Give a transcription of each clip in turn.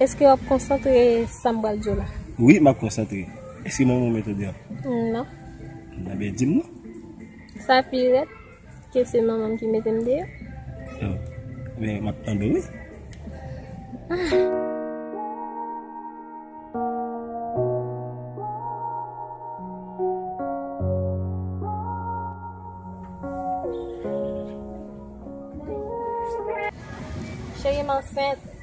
Eske wap konsantre sam bal diw la. Wi map konsantre eske manman w met ou deyò. Non. Enben dim non. Sa pi red ke se manmanm ki metem deyò. Oh men map tande wi. Ah. Cheri m ansent.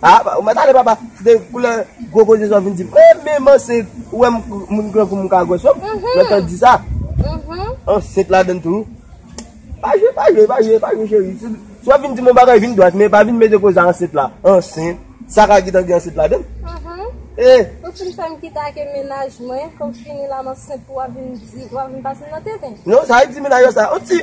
Ah ou mèt ale papa de koulè gwo koze sa w vin di m eh men man se ou wè moun gran kou m m ka gwès yo lè tan di sa ansent ladann tou pa jwe pa jwe pa jwe pa jwe cheri si w ap vin di m yon bagay vin dwat men pa vin mete koze ansent la ansent sa ka gentan gen ansent ladann eh ou fin fè m kite ake menaj mwen fò m fini la m ansent pou w ap vin di w ap vin pase m nan tenten non sa e ti menaj yo sa on ti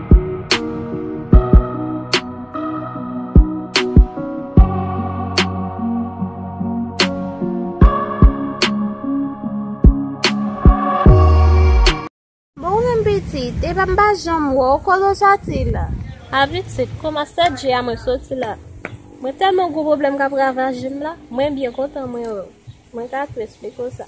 Epa m pa janm wè w, kote w soti la? A pitit, kouman 7 je a mwen soti la? Mwen tèlman gwo pwoblèm k ap ravaje m la, mwen byen kontan mwen wè w. Mwen ka tou esplike w sa.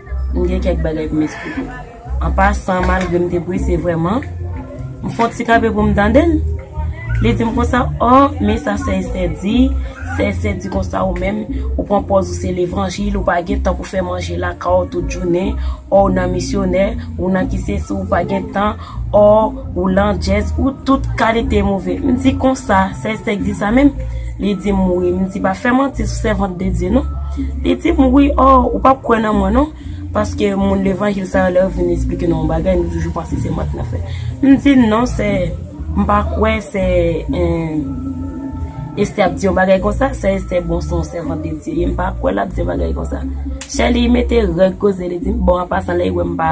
M gen kèk bagay pou m esplike. An pasan, malgre m te prese vrèman, m fè yon ti kanpe pou m tande l. Li di m konsa, O, men sa Sè Estè di, Sè Estè di konsa ou menm, ou pran pòz ou se levanjil, ou pa gen tan pou fè manje lakay ou tout jounen, o ou nan misyonè, ou nan ki sesi, ou pa gen tan, Or ou landjèz ou tout kalite move. M di konsa, sèl sèk di sa menm? Li di m wi. M di pa fè manti sou sèvant de Dye non. Li di m wi, or ou pap kwè nan mwen non. Paske moun levanjil sa yo lè yo vin esplike nou yon bagay nou toujou panse se manti nan fè. M di l non sè, m pa kwè sè Estè ap di yon bagay konsa. Sè Estè bon se yon sèvant de Dye ye, m pa kwè l ap di yon bagay konsa. Chèli mete règ koze li di m bon an pasan lè li wè m pa.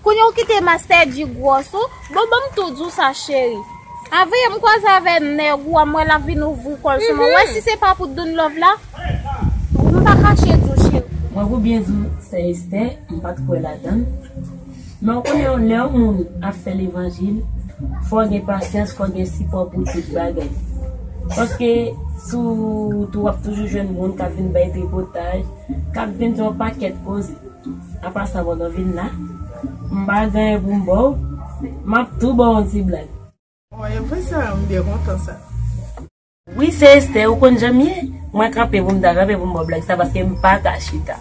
Kounye ou kite master Dji gwòs ou, bon banm tou diw sa cheri. Avee m kwaze avè nèg ou a m wè lap vin ouvri kòl sou mwen, ou wè si se pa pou doun love la m pa kache diw cheri. Mwen pou byen diw sè Esther m pat kwè ladann men ou konnen lè yon moun ap fè levanjil fòw gen pasyans fòw gen sipò pou tout bagay paske sou wout ou wap toujou jwenn moun kap vin bay tripotaj kap vin di yon pakèt koze. An pasan pandan vin la, m pa gen anyen pou m ba w, m ap tou ba w yon ti blag. Oh e vre sa? M byen kontan sa. Wi se Esther, ou konn jan m ye? Mwen kanpe pou m ta kanpe pou m ba w blag sa paske m pa ka chita.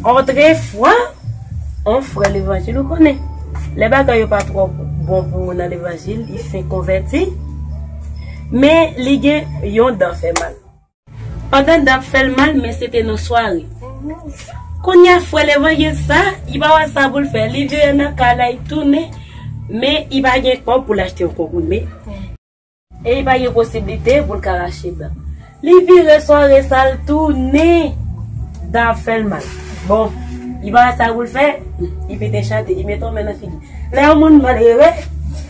Otrefwa, yon frè levanjil ou konnen, lè bagay yo pa twò bon pou ou nan levanjil, li fenk konvèti, men li gen yon dan fè mal. Pandan dan ap fèl mal men se te nan sware. Kounya frè levanjil sa li pa wè sa poul fè li vire nan kay la li tounen men li pa gen kòb poul achte yon konprime e li pa gen posiblite poul ka rache dan li vire sware sa al tounen dan ap fèl mal bon li pa wè sa poul fè li pete chante li mete yon men nan figi lè yon moun malere.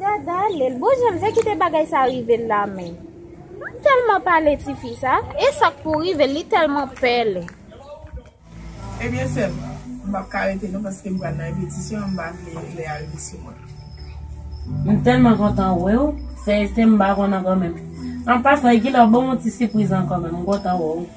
Gadalel, bon jan vle kite bagay sa rive l la men. Mwen telman pale ti fi sa, e sak pou rive li telman pele. Ebyen sèm, m pap ka rete non paske m pral nan repetisyon, m pa vle lè a rive sou mwen. M telman kontan wè w, sèyezte m pa konn ankò menm. An pasan, e kilè w ban m yon ti sipriz ankò menm, m kontan wè w.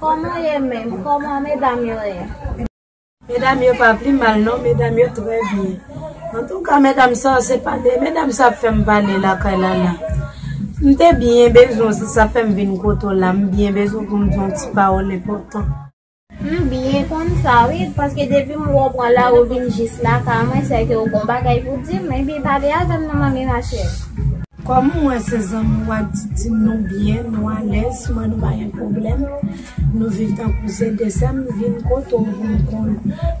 Koman w ye menm? Koman medam yo ye? Medam yo pa pi mal non medam yo trè byen antouka medam sa se pa de medam sa ap fèm pale lakay la la m te byen bezwen w se sa fèm vin kote w la m byen bezwen pou m di w yon ti pawòl enpòtan. M byen konn sa wi paske depi m wè w pran lari w vin jis lakay mwen sèke w gon bagay pou di m epi pale avè m non manmi Rachel. Kòm m wè se zanmi wa didi m nou byen nou alèz man nou pa gen pwoblèm nou viv tankou se de sè m vin kote w pou m konn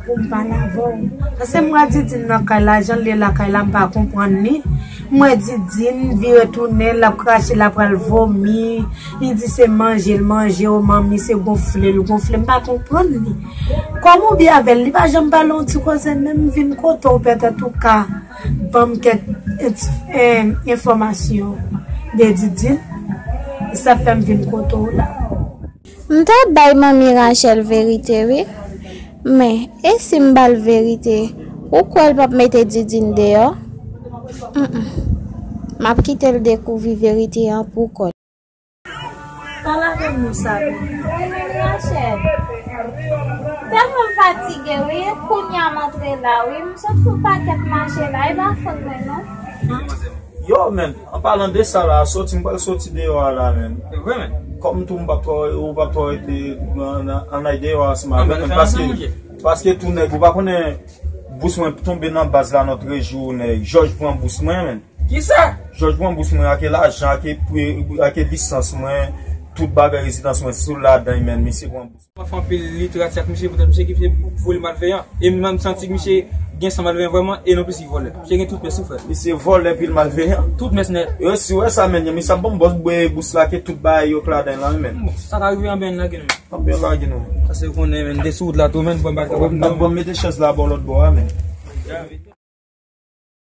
pou m pale avè w. Pase m wè didine nan kay la jan l ye lakay la m pa konprann li m wè didine vire tounen lap krache la pral vomi li di se manje l manje o manmi se gonfle l gonfle m pa konprann li kòm ou byen avè l li pa janm pale yon ti koze menm m vin kote w pètèt ou ka Banm kèk enfòmasyon de Didine, e sa fèm vin kote w la. M ta bay manmi Rachel verite wi, men e si m ba l verite ou kwè l pap mete Didine deyò? Humm map kite l dekouvri verite an pou kò l. Pale avèm non Samy. Wi Mania chèf. Telman m fatige wi kounya m antre la wi m sot fon pakèt mache la e pa fot mwen non. Yo menn an palan de sa la soti m pral soti deyò a la menn. Evre menn. Kòm tou m pap twò ou pap twò rete an al deyò a seman avèk mwen paske paske tou nèg ou pa konnen bous mwen tonbe nan baz la nòt rejou nèg jòj pran bous mwen menn. Kisa? Jòj pran bous mwen ake lajan ake pre ake lisans mwen tout bagay rezidans mwen sil ladan y menn misye pran bous. Mwen fè anpil literati ak misye poutèt misye kite vole malveyan e mwen menm santi misye gen san malveyan vrèman e nonplis li vòlè. Misye gen tout mès wi frè. Misye vòlè epil malveyan. Tout mès nèt. Yo si wè sa menn misye ap banm bòs bwe bous la ake tout bagay yo k ladan y lan wi menn. Bon sa ka rive anben lage nou menn. Anben yo lage nou menn. Pase ou konnen menn de sou wout la tou menn banm pa ka banm non. Banm mete chèz la baw lòt bò a menn.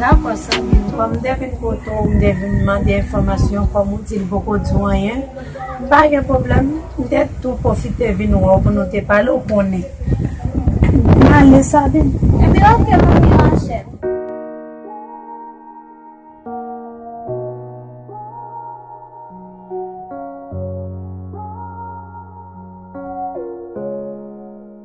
Dakò zanmim, kòm m te vin kote w, m te vin mande enfòmasyon, kòm ou di li poko di w anyen, pa gen pwoblèm, m te tou pwofite vin wè w pou nou te pale, ou konnen. M ale Sabine. Epi ok manmi Rachel.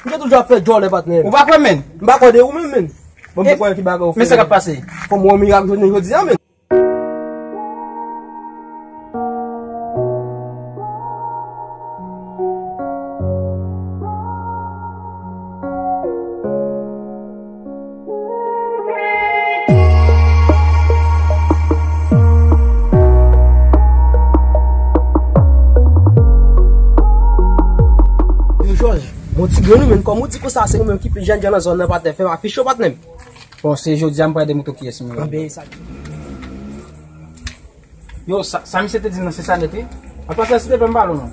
Ou te toujou ap fè djòlè patnè'm. Ou pa kwè'm menn? M pa kwè de ou menm menn. Bon m kwè ki bagay ou fè. Men sa kap pase? Fò m wè yon mirak jounen jodi a menn. Bon ti gre nou menm, kòm ou di konsa se ou menm ki pi jen jen nan zòn nan patnè, fè m afich yo patnè m. Bon se jodi a m pral de mouton ki es m yo. Anben e sa. Yo, sa misye te di m nan se sa nèt wi. An pasan si te pè m pa lou non.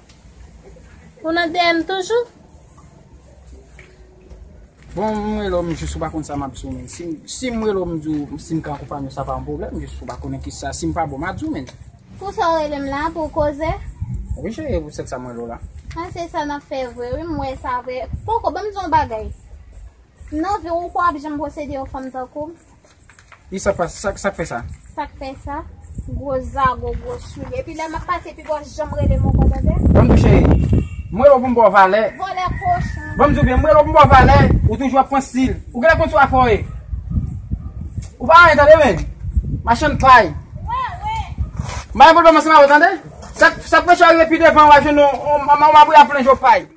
Ou nan DM toujou? Bon m rele w m jis ou pa konn sa map di w menn. Si m rele w m di w si m ka akonpanye w sa pa yon pwoblèm jis ou pa konnen ki sa. Si m pa bon ma di w menn. Pou sa w rele m la? Pou w koze? Wi cheri pou sèt sa m rele w la. A se sa nap fè vre wi m wè sa vre. Poko banm di w yon bagay. Nan vi w ou kwè w ap janm posede yon fanm tankou m? Ki sa k pase? Sa k fè sa? Sa k fè sa? Gwo zago, gwo soulye. Epi lè m ap pase pi bò, janm rele m ankò, tande? Banm tou cheri. M rele w pou m ba w valè. Vòlè kochon. Banm di w byen, m rele w pou m ba w valè. Ou toujou ap pran stil. Ou genlè konn sou afè w ye. Ou pa anyen tande men. Machann pay. Wè, wè. M pa gen pwoblèm ansanm avè w tande. Sa k fè chè w rive pi devan w ap jwenn yon, yon mabouya plen je w pay.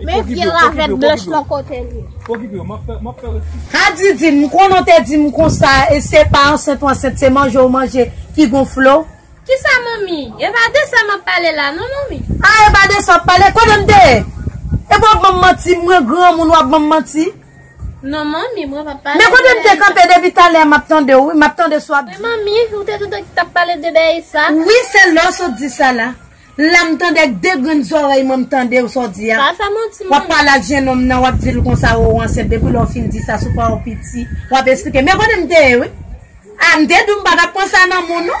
Men vye ravèt blanch lan kote li. Pokipe yo map fè map fè reski. Ha Didine m konnen w te dim konsa e se pa ansent w ansent se manje w manje ki gonfle w. Kisa manmi? E pa de sa map pale la non manmi. Ah e pa de sa wap pale, kote m te ye? Epi wap banm manti mwen granmoun wap banm manti. Non manmi mwen pap pale de. Men kote m te kanpe depi talè map tande w wi, map tande sa wap di. Wi manmi, ou te toutan ki tap pale de Daïsa. Wi se lè w sot di sa la. La m tande ak 2 grenn zorèy mwen m tandew sa w di a. Pa fè manti man. Wap pale ak jenòm nan wap dil konsa ou ansent depi lè ou fin di sa sou pa ou piti wap esplike men kote m te ye wi a m te di w m pa tap pran sa nan moun non.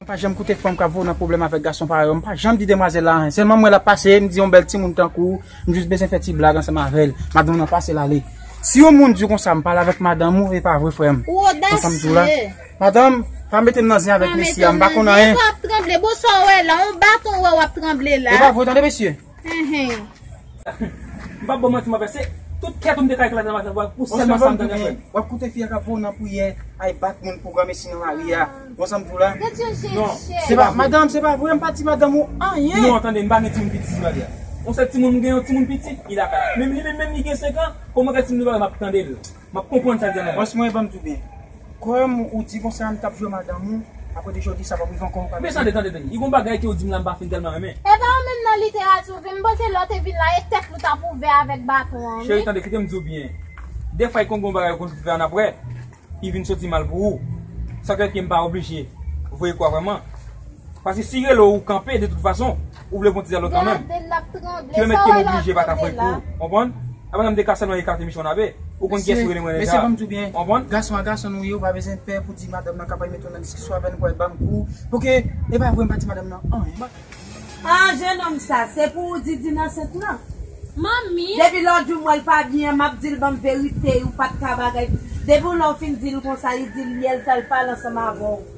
Mwen pa janm koute fanm kap voye w nan pwoblèm avèk gason parèy ou, mwen pa janm di demwazèl la anyen, sèlman m wè lap pase, m di yon bèl timoun tankou w, m jis bezwen fè ti blag ansanm avèl, madanm nan pase l ale. Si yon moun di w konsa m pale avèk madanm ou, e pa vre frè m? Ou odasye! Madanm, pa mete m nan zen avèk mesye a, m pa konn anyen! Kisa wap tranble? Bon sa w wè la? On baton ou wè wap tranble la? E pa vre tande mesye! M pap baw manti m avè se tout kèt ou m te ka eklate nan maten vwa ou sèlman sa m tande frè m. Wap koute fi a kap vow nan priyè ay bat moun pou granmesi nan lari a bon sa m di w la. Non. Madanm se pa vre m pa di madanm ou anyen. Non tande m pa gen timoun piti sou lari a. On sèl timoun m gen yon timoun piti li lakay la. Menm li menm menm li gen 5 an kòman kèt timoun li pa wè m ap tande l. Map konprann sa Diana bòs mwen banm tou byen kòm ou di konsa ann kap jwe madanm ou aprè 2 jou di sa pap rive ankò ou pa Men tande tande tande li gon bagay ke ou dim la m pa fin tèlman renmen. Epa ou menm nan literati ou vin m panse lè w te vin la e tèt li w tap ouvè avèk baton an Cheri wi. tande kite m di w byen defwa e konn gon bagay ou konn fè ann aprè ki vin soti mal pou ou sa k fè ke m pa oblije voye kou a vrèman paske si rele w ou kanpe de tout fason. Ou vle fon ti zèl otan menm. Kilomèt kem oblije pa ta fè pou ou. Konprann? Apa nan m te ka sèlman ekate miche yon ave? Ou konn kiyès ou rele mwen deja. Konprann? Gason a gason nou ye ou pa bezwen pè pou di madanm nan kapab mete w nan diskisyon avè l pou al banm kou. Pouki e pa vre m pa di madanm nan anyen. An jenòm sa se pou ou di Dina ansent lan? Manmi! Depi lè w di w wè l pa byen an m ap di l banm verite ou pat ka bagay pou. Depi w lè w fin di l konsa li di l ye l fè l pale ansanm avè w.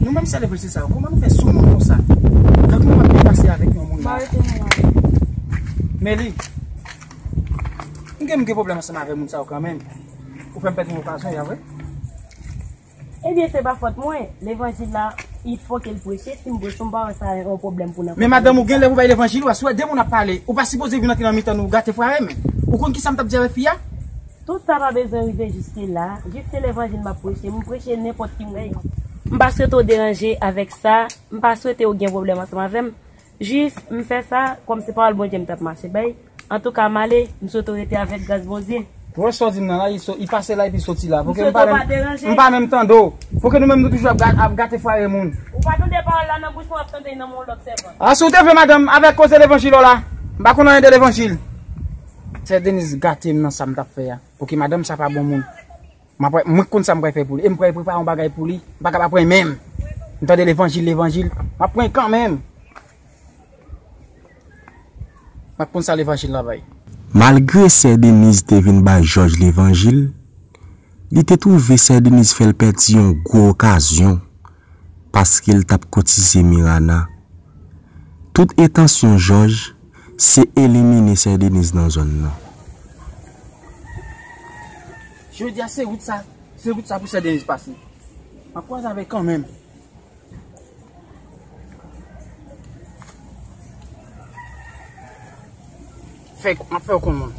Nou menm selebriti sa yo, kouman nou fè soumoun konsa? Kèk moun ap byen pase avèk yon moun nan. Meli, m gen m gen pwoblèm ansanm avè moun sa yo kanmenm. Ou fè m pèdi yon okazyon ya vre? Ebyen se pa fòt mwen, levanjil la, i fò ke l preche, si m preche m pa wè sa yon pwoblèm pou nan. Men madanm ou genlè pou bay levanjil ou a, si w wè de moun ap pale, ou pa sipoze vin antre nan mitan nou gate fware men. Ou konn kisa m t ap di avè fi a? Tout sa pa bezwen rive jiske la. Jiske levanjil map preche, m preche nenpòt ki moun. M pa swete w deranje avèk sa, m pa swete w gen pwoblèm ansanm avè m. Jis, m fè sa, kòm se pawòl Bondye m tap mache bay. Antouka, m ale, m swete w rete avèk gras Bondye. Ou wè sa w di m nan la, li pase la epi soti la. M swete w pa deranje. M pa menm tande w. Pouki nou menm nou toujou ap gate fwaye moun? Ou pa tande pawòl la nan bouch mwen, w ap tande l nan men yon lòt sèvan. A, si w te vle madanm, avèk koze levanjil w la. M pa konn anyen de levanjil. Sè Denise gatem nan sam tap fè a ok madanm sa pa bon moun mwen k konn sam pral fè pou li em pral prepare yon bagay pou li m paka pa pran menm m tande levanjil levanjil map pran kanmenm mwen k konn sa levanjil la bay. Malgre sè Denise te vin bay jòj levanjil li te twouve sè Denise fèl pèdi yon gwo okazyon paskel tap koutize Mirana tout entansyon jòj Se elimine sè Denise nan zòn nan. Jodi a se wout sa, se wout sa pou sè Denise pase. Map kwaze avèl kanmenm. Fèk, map fèw konn moun.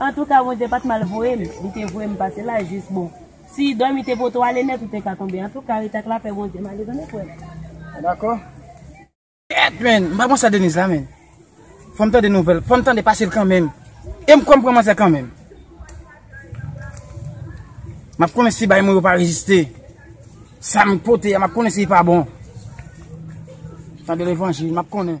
Antouka Bondye pat mal voyem li te voyem pase la jis bon si dòmi te pote w ale nèt ou te ka tonbe antouka rete ak lapè Bondye male zanmi frèm mwen dakò. Ket menn m pa bon sa Denise la menn fòm tande nouvèl fòm tande pasel kanmenm em kwèm pran manzè kanmenm map konnen si bay mwen yo pa reziste sam pote a map konnen si li pa bon tande levanjil map konnen.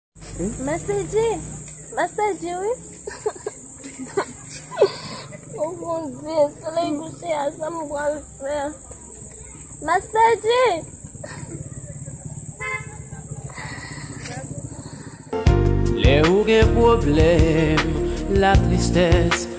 Master J! Master J wi! Oh mon Dieu, soleil couché a sa m pral fè? Master J! Lè ou gen pwoblèm, la tristès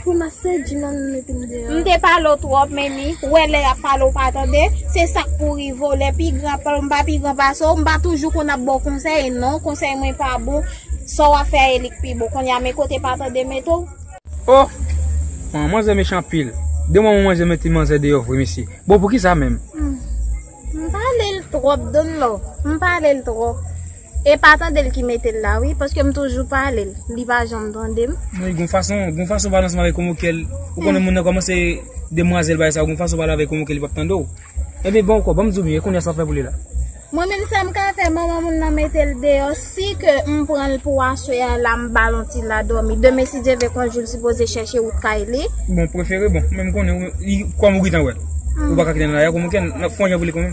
Grimace di non nou mete m deyò. M te pale w twòp Mimi, ou wè lè yap pale w pa tande, se sak pou rive w lè pi gran ap pale m pa pi gran pase w, m pa toujou konn ap ba w konsèy non, konsèy mwen pa bon, sa w ap fè a ye li k pi bon, kounye a men kote pa tande mete w. Oh! An manzè mechan anpil. De manman manzè mete manzè deyò vre mesye. Bon poukisa menm? M pale l twòp Don Lo, m pale l twòp. E pa tandel ki metel la wi paskem toujou palel li pa janm tandem. Wi gon fason gon fason pale ansanm avèk konvo kèl ou konnen moun nan kòmanse demwazèl bagay sa yo gon fason pale avèk konvo kèl li pap tande w ebyen bon ankò banm diw byen e konnya sap fè pou li la. Mwen menm sam ka fè manman moun nan metel deyò si ke m pranl pou aswè a la m bal on ti la dòmi demen si Dye vle kon jou l sipoze chèche wout kay li. Bon prefere bon menm konnen wi kòm ou gentan wè ou paka kite nan la konvo kèl fon jan pou li konn.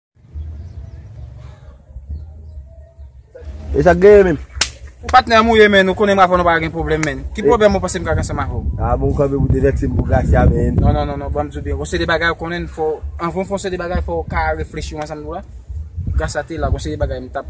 E sak genyen menm? Ou patnè a mouye menn, ou konnen m avè w nou pa ka gen pwoblèm menn. Ki pwoblèm ou panse m ka gen ansanm avè w? A bon ou kanpe pou devèti m pou Gracia menn. Non, non, non, non, ban m di w byen. Gon seri de bagay ou konnen fò, anvan w fè yon seri de bagay fò ou ka reflechi w ansanm nou la. Gracia te la, gon seri de bagay m t ap.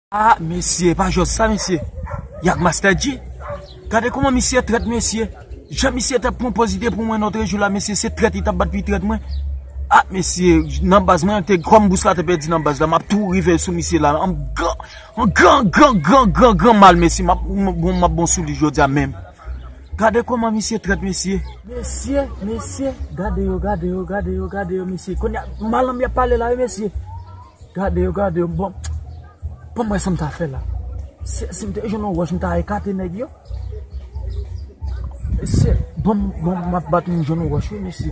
Ah mesye epa jòs sa mesye Yak master dji gade kouman misye trèt mesye jan misye tap pran pòz li te pran mwen lotre jou la mesye se trèt li tap bat pu trèt mwen ah mesye nan baz mwen te kòm bous la te pèdi nan baz la map tou rive sou misye la an gran an gran gran gran gran gran mal mesye map map bon sou li jodia menm gade kouman misye trèt mesye mesye mesye gade yo gade yo gade yo gade yo mesye kounye a malanm yap pale la wi mesye. Gade yo gade yo bon Pam wè sam ta fè la Si m te jwenn yon wòch m ta ekate nèg yo Mesye banm banm map bat m jwenn yon wòch wi mesye.